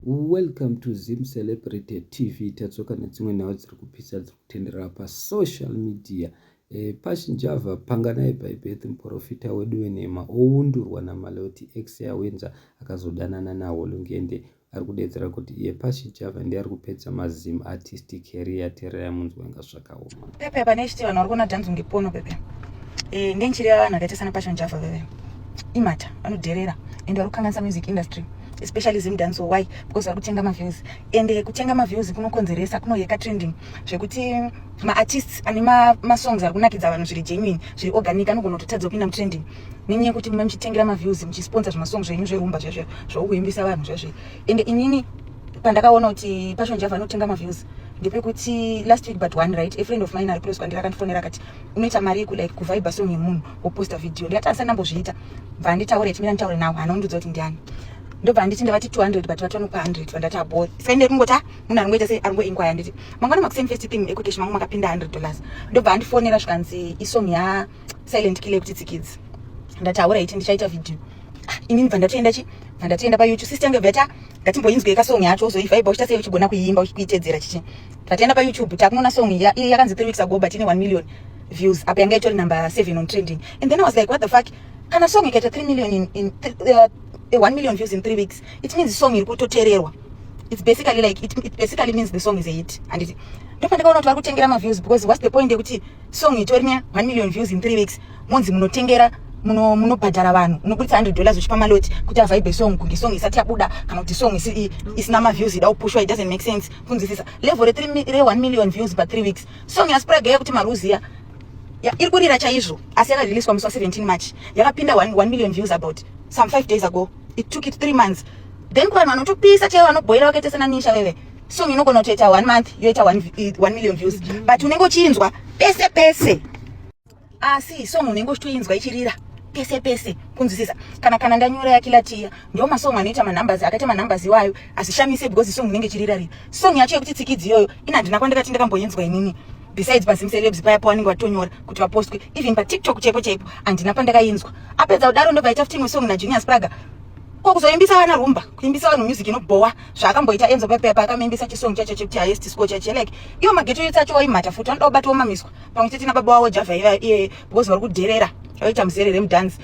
Welcome to Zim Celebrity TV tadzoka nedzimwe nhau dziri kupisa dziri kutenderera pasocial media e, pachinjava panganai bhaibheti muprofita wedu wenhema oundurwa namaloti ex yawenza akazodanana nawo lungende ari kudedzera kuti iye pachinjava ndiye ari kupedza mazim artistic career tererai munzwa inga zvakaoma Pepe apa nechiti vanhu vari kuona dance kunge pono pepe. Eh ngenchiri yavanhu akaita sana Passion Java veve. Imata vanodherera and vari kukanganisa music industry especially zim dance why because vari kutenga maviews and eh, kutenga maviews kunokonzeresa kunoyeka trending zvekuti maartists ane masongs ari kunakidza vanhu zviri genuine zviri organic anogona kutotadza kupinda mutrending nenyaya yekuti mume muchitengera maviews muchisponsa zvimasong zvenyu zverumba zvezve zvaukuimbisa vanhu zvezve and inini pandakaona kuti passion java anotenga maviews ndepekuti last week but one right a friend of mine ari close kwandiri akandifonera akati unoita mari yeku like kuvaiba song yemunhu woposta video ndikati andisati ndambozviita bva anditaure chimira nditaure nawo hana undiudza kuti ndiani ndobva anditi ndavati 200 but vati vanopa 100 vandati abo saka ndiri kungoti a munhu aringoita sei aringoinkwaya nditi mangwana makuseni first thing ekuteshi mangu makapinda 100 dollars ndobva andifonera zvikanzi isong ya silent killer kuti tsikidzi ndati hauraiti ndichaita video ah, ini ndibva ndatoenda chi bva ndatoenda payoutube sister yangu bvata ngatimboinzwe ka song yacho uzoivaiba uchita sei uchigona kuiimba uchikuitedzera chichi tatoenda payoutube takunoona song iya iya yakanzi 3 weeks ago but ine 1 million views apa yanga itori number 7 on trending and then i was like what the fuck kana song ikaita 3 million in, in uh, 1 million views in 3 weeks it means song iri kutotererwa it's basically like it, it basically means the song is a hit and ndopandakaona kuti vari kutengera maviews because what's the point yekuti song itori ne 1 million views in 3 weeks monzi munotengera munobhadhara vanhu unoburitsa 100 dollars uchipa maloti kuti avaibe song kunge song isati yabuda kana kuti song isina maviews ida kupushwa it doesn't make sense kunzwisisa level re1 million views pa 3 weeks song yaspraga yekuti maruziya iri kurira chaizvo asi yakariliswa musi wa 17 march yakapinda 1 million views about some 5 days ago it took it 3 months then kuvanhu vanotopisa chaivo vanobhoira vakaita sena nisha veve song inogona kutoita one month yoita one, one million views but unenge uchiinzwa pese pese asi song unenge uchitoinzwa ichirira pese pese kunzwisisa kana kana ndanyora yakilatiya ndo masong anoita manumbers akaita manumbers iwayo asishamise because song inenge ichirira rira song yacho yekuti tsikidzi iyoyo ina handina kwandakati ndakamboinzwa inini besides pazimcelebs paya pawanenge watonyora kuti vapostwe even patiktok chaipo chaipo handina pandakainzwa apedza kudaro ndobva ita ftingwe song najunior spraga ko kuzoimbisa vana rumba kuimbisa vanhu music inobhowa zvaakamboita enzo pepepa akamuimbisa chisong chacho chekuti highest score chacho like iyo mageto yotsi acho waimhata futi vanoda kubata womamiswa pamwe chete nababa wavo java iva iye because vari kudherera vaita muzerere mudhanzi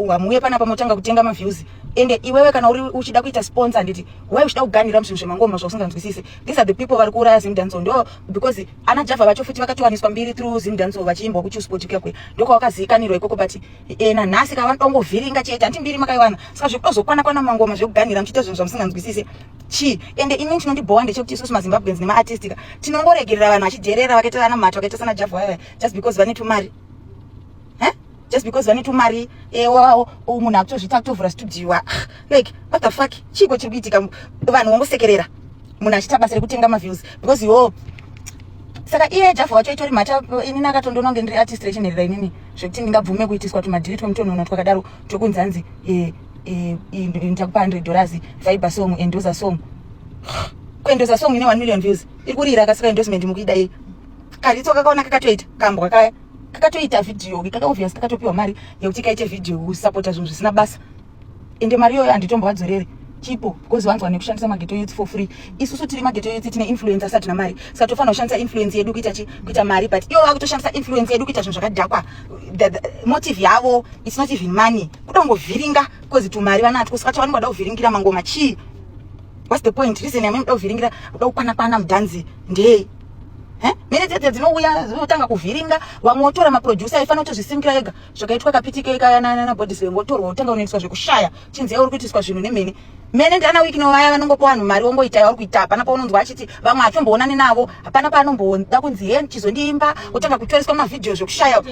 hamuuye panapa motanga kutenga maviews ende iwewe kana uri uchida kuita sponsor handiti why uchida kuganira muzvinhu zvemangoma zvausinganzwisise these are the people vari kuuraya zimdanso ndo because ana java vacho futi vakatowaniswa mbiri through zimdanso vachiimbwa kuchusport kuya kuya ndokwavakaziikanirwa ikoko but ena nhasi ka vanongovhiringa chete hanti mbiri makaiwana saka zvekutozokwana kwana mangoma zvekuganhira muchiita zvinhu zvamusinganzwisise chii ende ini chinondibhowa ndechekuti isusu mazimbabweans nemaatistika tinongoregerera vanhu vachidherera vakaita vana mhata vakaita sana javha vaya just because vane tumari just because vane tumari ewawo eh, munhu akutozviita kutovhura studio ah, like what the fuck chiiko chiri kuitika vanhu vongosekerera munhu achiita basa rekutenga maviews because yo saka iye javha wacho itori mhata inini akatondononge ndiri artist rechinherera inini zvekuti ndingabvume kuitiswa tumadhiri twemutonono twakadaro twekunzi hanzi eh, eh, eh, ndichakupa 100 dollars viber song endosa song kuendosa song ine 1 million views iri kurira akasika endorsement mukuida yei karitso kakaona kakatoita kambwa kaya kakatoita vhidhiyo kaka obvious kakatopiwa mari yekuti kaite vhidhiyo kusapota zvinhu zvisina basa ende mari iyoyo handitombovadzorere chipo because vanzwa nekushandisa mageto youth for free isusu tiri mageto youth tine influence asati namari saka tofanira kushandisa influence yedu kuita chi kuita mari but ivo vakutoshandisa influence yedu kuita zvinhu zvakadhakwa motive yavo its not even money kuda kungovhiringa because tumari vanatwo saka chavanenge vada kuvhiringira mangoma chii whats the point reason yamene kuda kuvhiringira kuda kukwana kwana mudhanzi ndei mene dzedze dzinouya dzinotanga kuvhiringa vamwe votora maproducer aifanira kutozvisimbira ega zvakaitwa kapitikei kaya nana bodyslam wotorwa wotanga unoitwa zvekushaya chinzi yauri kuitiswa zvinhu nemhene mene ndiana wiki novaya vanongopa vanhu mari wongoita yauri kuita hapana paunonzwa achiti vamwe hatomboonani navo hapana paanomboda kunzi he chizondiimba wotanga kutoreswa mavhidhiyo zvekushaya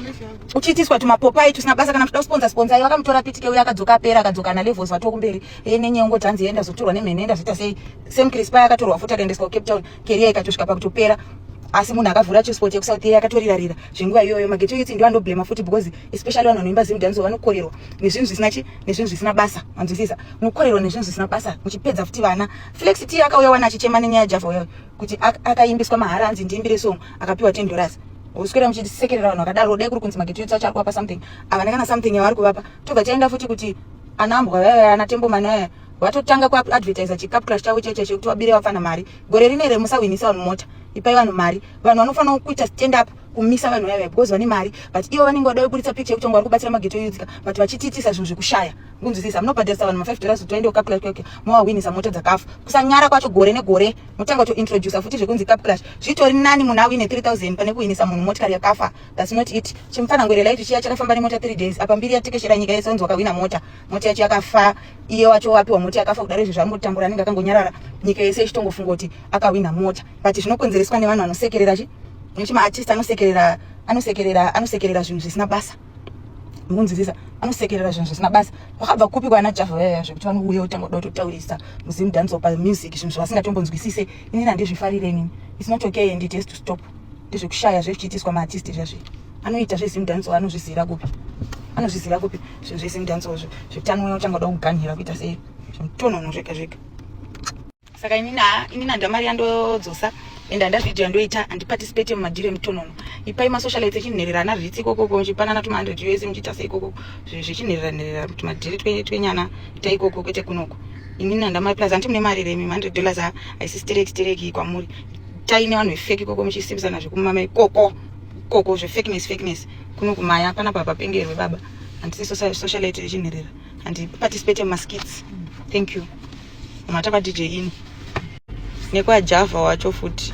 uchiitiswa tumapopai tusina basa kana kuda kusponza sponzai vakamutora pitike uye akadzoka apera akadzoka nalevels vatokumberi e nenyengo tanzi enda zotorwa nemhene enda zvoita sei same crisp akatorwa futi akaendeswa kucape town keriya ikatosvika pakutopera asi munhu akavhura chesport yekusouth yeya akatorirarira zvenguva iyoyo mageto youth ndiwo anoblema futi because especially vanhu vanoimba zim dance vanokorerwa nezvinhu zvisina chi nezvinhu zvisina basa manzwisisa mukorerwa nezvinhu zvisina basa muchipedza futi vana flex t akauya wana achichema nenyaya java uya kuti akaimbiswa mahara anzi ndiimbire song akapiwa ten dollars uswera muchisekerera vanhu vakadaro dai kuri kunzi mageto youth acho ari kuvapa something avane kana something yavari kuvapa tobva taenda futi kuti anambwa vaya vaya anatembo mani vaya watotanga kuadvertisa chikapu crash chavo chaicho chekuti wabire vafana mari gore rine here musahwinisa vanhu mota ipai vanhu mari vanhu vanofanira kuita stand up kumisa vanhu vaya vaya because vane mari but ivo vanenge vada kuburitsa picture yekuti vanga vari kubatsira mageto yudzika but vachitiitisa zvinhu zvekushaya kunzwisisa munobhadharisa vanhu ma5 dollars kuti vaende kukapclash kwake mowahwinisa mota dzakafa kusanyara kwacho gore negore motanga kutointroducer futi zvekunzi capclash zvitori nani munhu awine 3000 pane kuhwinisa munhu motikari yakafa thats not it chimufanangwerelaitu chiya chakafamba nemota 3 days apa mbiri yatekeshera nyika yese onzi wakahwina mota moti yacho yakafa iye wacho wapiwa moti yakafa kudaro izvo zvaangotambura anenge akangonyarara nyika yese ichitongofunga kuti akahwina mota but zvinokonzereswa nevanhu vanosekerera chi nekuti maartist anosekerera anosekerera anosekerera zvinhu zvisina basa mukunzwisisa anosekerera zvinhu zvisina basa vakabva kupi kwana java vayaya zvekuti vanouya kutanga kuda kutotaurisa muzim dance pa music zvinhu zvavasingatombonzwisise inini handizvifarire inini its not okay and it has to stop ndezvekushaya zvekuchiitiswa maartist zvazvi anoita zvezim dance anozviziva kupi anozviziva kupi zvinhu zvezim dance zvo zvekuti anouya uchanga uda kuganhira kuita sei zvimutonono zvega zvega saka inini inini handa mari yandodzosa and handa video yandoita handiparticipate mumadhiro emutonono ipai masocialite echinherera ana rits ikokoko muchipanana tuma 100 us muchiita sei ikokoko zvechinherera nherera kuti madhiri twenyana ta ikoko kwete kunoko inini handa mari plus hanti mune mari remi 100 dollars haisi stereki stereki kwamuri taine vanhu vefeki koko muchisimbisana zvekumama ikoko koko zvefekiness fekiness kuno kumaya hapana baba pengerwe baba handisi socialite yechinherera handiparticipate mumaskits thank you mata kwadj ino nekwajava wacho futi